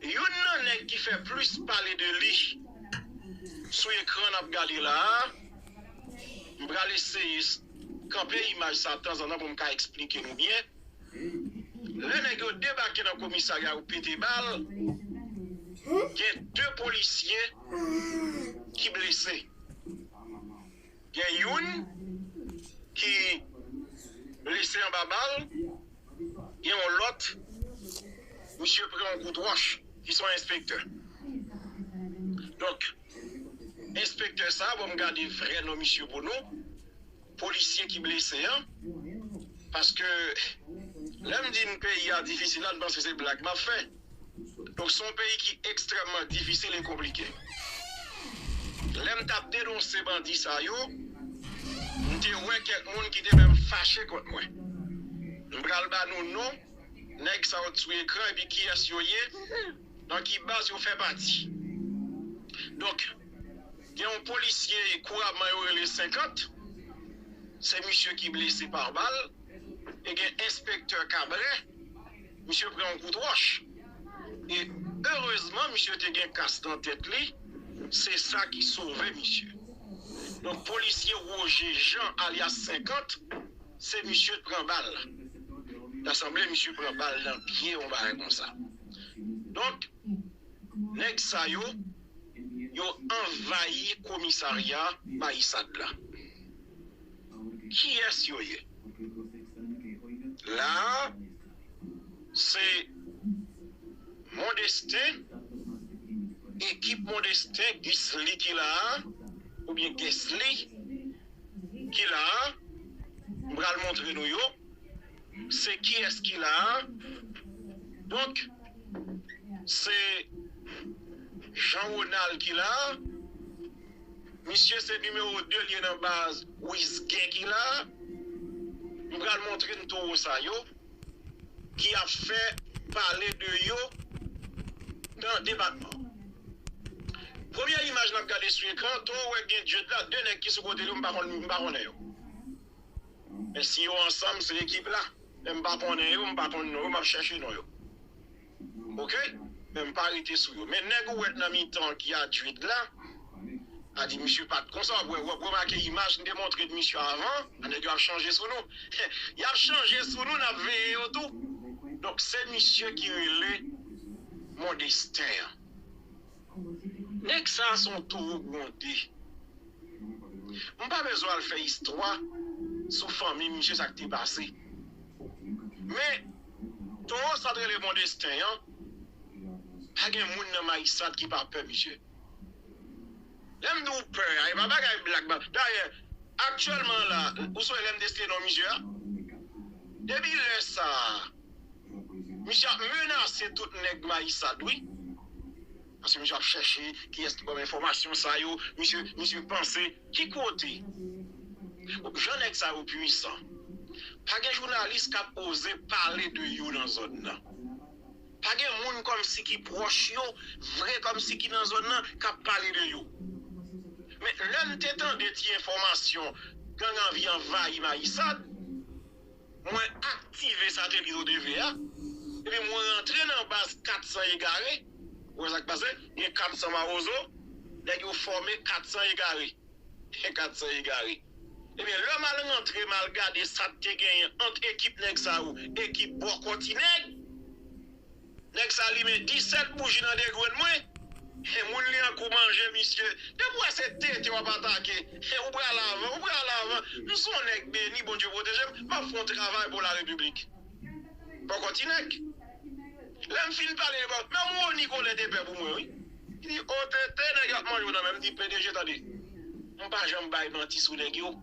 Youn nan nèg ki fè plis pale de li sou ekran nap gade la a, m pral eseye kanpe imaj sa tanzantan pou m ka eksplike nou byen, lè nèg yo debake nan komisarya yo pete bal, gen 2 polisye ki blese. Gen youn ki blese anba bal, gen yon lòt misye pran yon kout wòch ki son enspektè. Donk enspektè sa bon m gade vrè non misye pou nou, polisye ki blese an paske lè m di n peyi a difisil la n panse se blag m ap fè. Donk se yon peyi ki ekstrèmman difisil e konplike. Lè m t ap denonse bandi sa yo, m te wè kèk moun ki te menm fache kont mwen. M pral ba nou non nèg sa yo sou ekran epi kiyès yo ye, nan ki baz yo fè pati. Donk, gen yon polisye kourabman yo rele 50, se misye ki blese pa bal e gen enspektè Kabrè. Misye pran yon kout wòch e erezman misye te gen kas nan tèt li, se sa ki sove misye. Donk polisye Roger Jean alyas 50 se misye t pran bal la. Ta sanble misye pran bal nan pye yon bagay konsa. Donk nèg sa yo, yo anvayi komisarya Baissat la. kiyès yo ye la a se mondestin ekip mondestin gisli ki la a oubyen guesly ki la a m pral montre nou yo se kiyès ki la a donk se jean ronald ki la a Misye se numéro 2 liye nan baz wiz gen ki la m pral montre n toro sa yo ki ap fè pale de yo nan depatman premye imaj nap gade sou ekran to wè gen dye de la 2 nèg ki sou kote yo m pa konn m pa konnen yo men si yo ansanm se ekip la men m pa konnen yo m pa konn non yo map chèche non yo. ok men m pa rete sou yo men nèg ou wè nan mitan an ki a Jude la a di misye pat konsa wap wè wap remake imaj m te montre w misye avan an nèg yo ap chanje sou nou yap chanje sou nou nap veye yo tou donk se misye ki rele Mondestin an nèg sa a son towo gwonde m pa bezwen al fè istwa sou fanmi misye sak te pase men. Toro sat rele bon destin an pa gen moun nan Maissat ki pa pè misye lèm di w pè a e pa bagay blag dayè aktyèlman la ou sonje lèm te site non misye a depi lè sa misye ap menase tout nèg Maissat wi. Paske misye ap chèche kiyès ki banm enfòmasyon sa yo, misye misye panse ki kote jan nèg sa yo pwisan pa gen jounalis kap oze pale de yo nan zòn nan pa gen moun kòmsi ki pwòch yo vre kòmsi ki nan zòn nan kap pale de yo men lèm te tande ti enfòmasyon gang anvi anvayi Mayisad. Mwen aktive satelit ODV a, epi mwen rantre nan baz 400 egare, ou wè sa k pase, gen 400 mawozo, nèg yo fòme 400 egare, 400 egare. Ebyen lè m al rantre m al gade sa k te genyen ant ekip nèg sa yo, ekip bòkò ti nèg, Nèg sa limen 17 bouji nan degrenn mwen he moun li an kou manje misye depi ou wè se tete wap atake he ou pral avan ou pral avan m son nèg beni bondye protejem map fon travay pou la repiblik poko ti nèg lèm fin pale li bon menm Rony kole te pè pou mwen wi li di oh tete nèg yo ap manje w nan menm di pdg tande m pa janm bay manti sou nèg yo.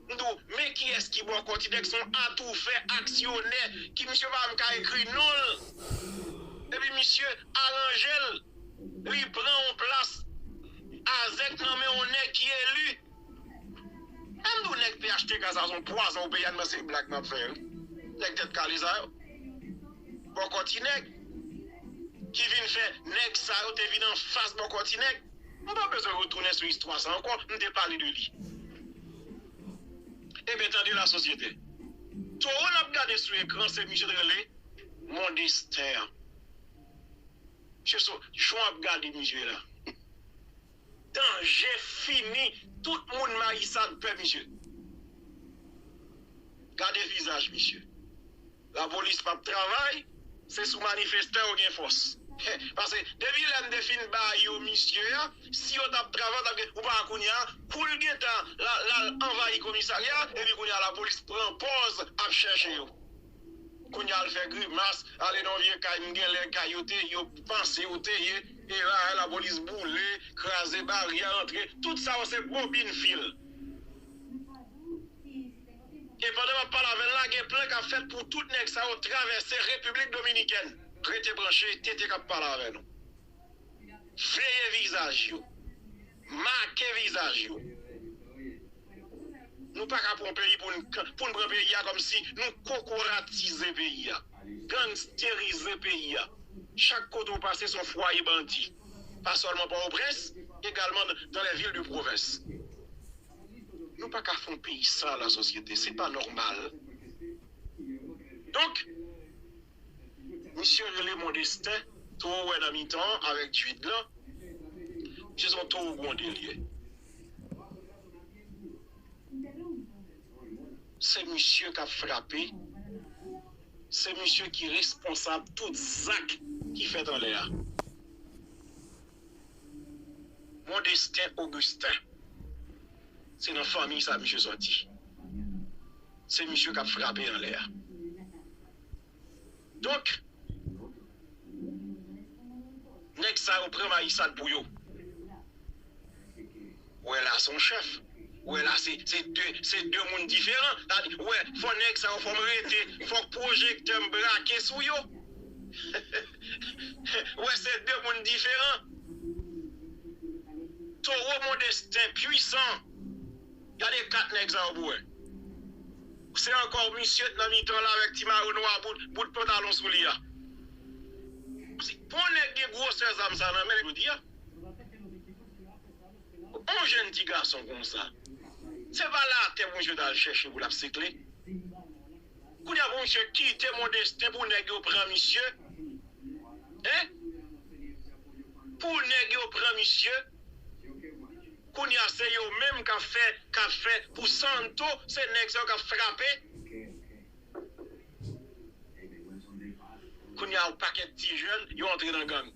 M tou, men kiyès ki bòkò Tidex son atoufè, aksyonè ki misye pa menm ka ekri non l epi misye aranje l li pran on plas azèk nan men on nèg ki eli e m tou nèg phtk sa son pwazon pou peyi a nan se blag map fè wi nèg tèt kale sa yo bòkò Tinèg ki vin fè nèg sa yo te vin anfas bòkò Tinèg. Nou pa bezwen retounen sou istwa sa ankò, m te pale de li. Ebyen tande la sosyete. Towo nap gade sou ekran se misye t rele Mondestin an. Mesye so jan wap gade misye la. Danje fini tout moun Marissade pè misye. Gade vizaj misye. Lapolis pap travay se sou manifestan yo gen fòs pase depi lè mte fin ba yo misye a si yo tap travay tap gen ou pa wè kounye a poul gentan lal anvayi komisarya epi kounye a lapolis pran pòz ap chèche yo kounye a al fè grimas ale nan yon vye kay mgen lè kay yo te yo panse yo te ye e rahay lapolis boule kraze baryè antre tout sa yo se bobin fil. E pandan map pale avèl la gen plan kap fèt pou tout nèg sa yo travèse Repiblik Dominikèn. Rete branche TT kap pale avè nou. Veye vizaj yo. Make vizaj yo. Nou paka pran peyi poun poun pran peyi a kòmsi nou kokoratize peyi a. Gangsterize peyi a. Chak kote ou pase son fwaye bandi. Pa sèlman Pòtoprens egalman dans les villes de province. Nou pa ka fè yon peyi san la sosyete, se pa nòmal. Donk, misye rele Mondestin towo wè nan mitan an avèk Dwid lan, misye se yon towo gwonde li ye. Se misye k ap frape, se misye ki responsab tout zak ki fèt anlè a. Mondestin Augustin se nan fanmiy sa misye sòti se misye kap frape anlè a donk nèg sa yo pran mayisad pou yo. Ou wè la son chèf. Ou wè la se se 2 se 2 moun diferan. Sa vle di ou wè fò nèg sa yo fò m rete fòk pwojektè m brake sou yo. Ou wè se 2 moun diferan. Toro Mondestin pwisan. Gade 4 nèg sa yo pou wè. Se ankò misye t nan mitan la avèk ti mayo nwa bout bout pantalon sou li a. Pou yon nèg gen gwosè zam sa nan men l jodi a. Bon jèn ti gason konsa. Se pa latè pou misye tal chèche pou lap sikle. Kounye a pou misye kite Mondestin pou nèg yo pran misye hein. Pou nèg yo pran misye. Kounye a se yo menm kap fè kap fè pou Santo se nèg sa yo kap frape. Kounye a yon pakèt ti jèn yo antre nan gang.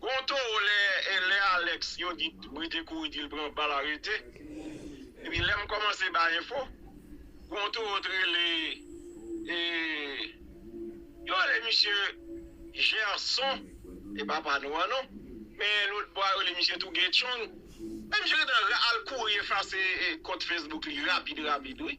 Gon toro lè lè Alex yon di brite kouri dil pran bal arete epi lèm kòmanse bay enfo gon toro t rele e yo rele misye Gerson e papa nou an non men lotbò a yo rele misye tou Guerchong men misye gentan al kouri efase kont Facebook li rapid rapid wi.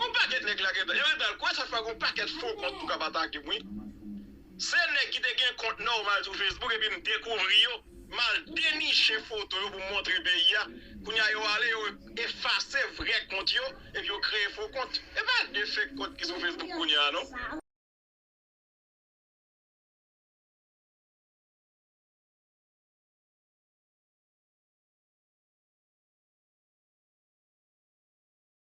Yon pakèt nèg la gentan. Yo gentan al kwe sa fè gon pakèt fo kont tou kap atakem wi. Se nèg ki te gen kont nòmal sou Facebook epi m dekouvri yo, m al deniche foto yo pou m montre peyi a, kounye a yo ale yo efase vrè kont yo epi yo kreye fo kont. E pa de fake kont ki sou Facebook kounye a non.